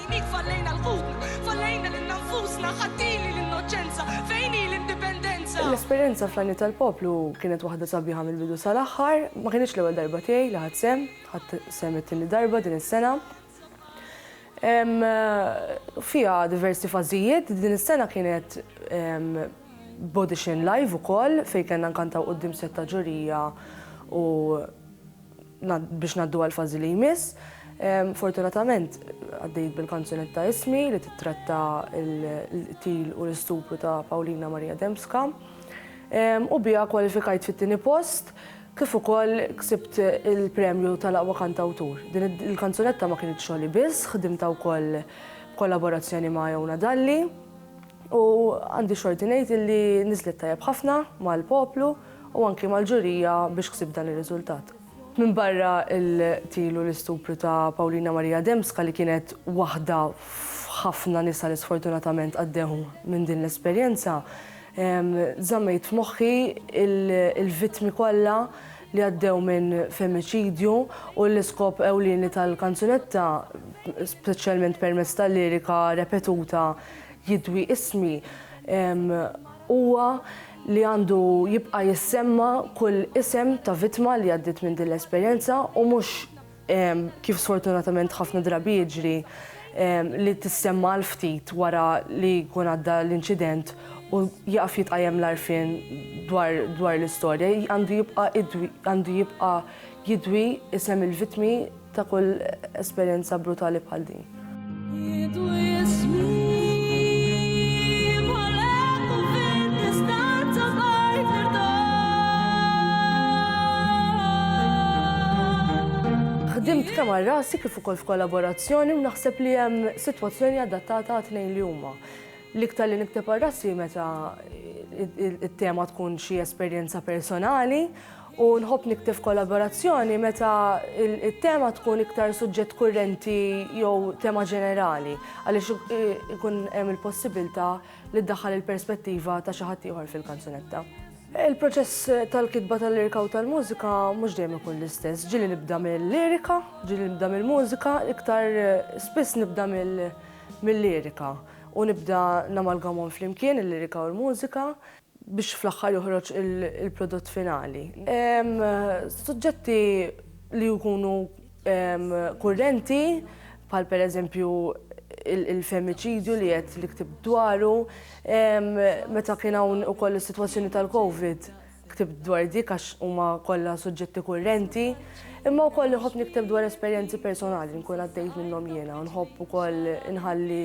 Fejn hi fallejna l-qum? Fallejna lilna nfusna, ħadd hi li l-innoċenza? Fejn hi l-indipendenza? L-esperjenza fl-Għajniet tal-Poplu kienet waħda sabiħa mill-bidu sal-aħħar. Ma kinitx l-ewwel darba tiegħi li ħadt sehem, ħadt sehem it-tieni darba din is-sena. Hemm fiha diversi fażijiet, din is-sena kienet b'audition live ukoll fejn kellna nkantaw quddiem sett ta' ġurija u biex ngħaddu għall-fażi li jmiss. Fortunatament għaddejt bil-kanzunetta Ismi li titratta l-qtil u l-istupru ta' Paulina Maria Dembska u biha kwalifikajt fit-tieni post kif ukoll ksibt il-premju tal-aqwa kantawtur. Din il-kanzunetta ma kienitx xogħli biss, ħdimtha wkoll b'kollaborazzjoni ma' Jona Dalli u għandi xorti ngħid illi niżlet tajjeb ħafna mal-poplu. u anki mal-ġurija biex ksib dan ir-riżultat. Minbarra l-qtil u l-istupru ta' Paulina Maria Dembska li kienet waħda f'ħafna nisa li sfortunatament għaddew minn din l-esperjenza, żammejt f'moħħi l-vittmi kollha li għaddew minn femiċidju u l-iskop ewlieni tal-kanzunetta, speċjalment permezz tal-lirika repetuta Jidwi ismi, huwa li għandu jibqa' jissemma kull isem ta' vittma li għaddiet minn din l-esperjenza u mhux, kif sfortunatament ħafna drabi jiġri, li tissemma għal ftit wara li jkun għadda l-inċident u jieqaf jitqajjem l-għarfien dwar l-istorja. Għandu jibqa' jidwi isem il-vittmi. ta' kull esperjenza brutali bħal din. Ħdimt kemm għal rasi kif ukoll f'kollaborazzjoni u naħseb li hemm sitwazzjoni adattata għat-tnejn li huma. L-iktar li nikteb għal rasi meta t-tema tkun xi esperjenza personali u nħobb nikteb f'kollaborazzjoni meta il-tema tkun iktar suġġett kurrenti jew tema ġenerali għaliex ikun hemm il-possibilità li ddaħħal il-perspettiva ta' xi ħadd ieħor fil-kanzunetta. Il-proċess tal-kitba tal-lirika u tal-mużika mhux dejjem ikun l-istess. Ġieli nibda mill-lirika, ġieli nibda mill-mużika, iktar spiss nibda mill-lirika u nibda namalgamhom flimkien il-lirika u l-mużika. biex fl-aħħar joħroġ il-prodott finali. Suġġetti li jkunu kurrenti bħal pereżempju il-femiċidju li qed li ktibt dwaru, meta kien hawn ukoll is-sitwazzjoni tal-Covid ktibt dwar dik għax huma kollha suġġetti kurrenti. Imma wkoll inħobb nikteb dwar esperjenzi personali li nkun għaddejt minnhom jiena u nħobb ukoll inħalli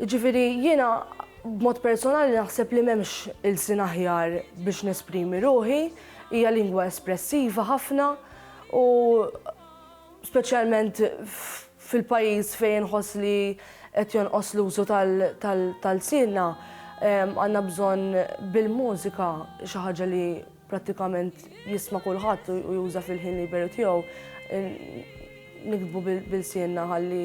Jiġifieri jiena b'mod personali naħseb li m'hemmx ilsien aħjar biex nesprimi ruħi, hija lingwa espressiva ħafna u speċjalment fil-pajjiż fejn inħoss li qed jonqos l-użu tal-lsienna għandna bżonn bil-mużika xi ħaġa li prattikament jisma' kulħadd u juża fil-ħin liberu tiegħu niktbu b'ilsienna ħalli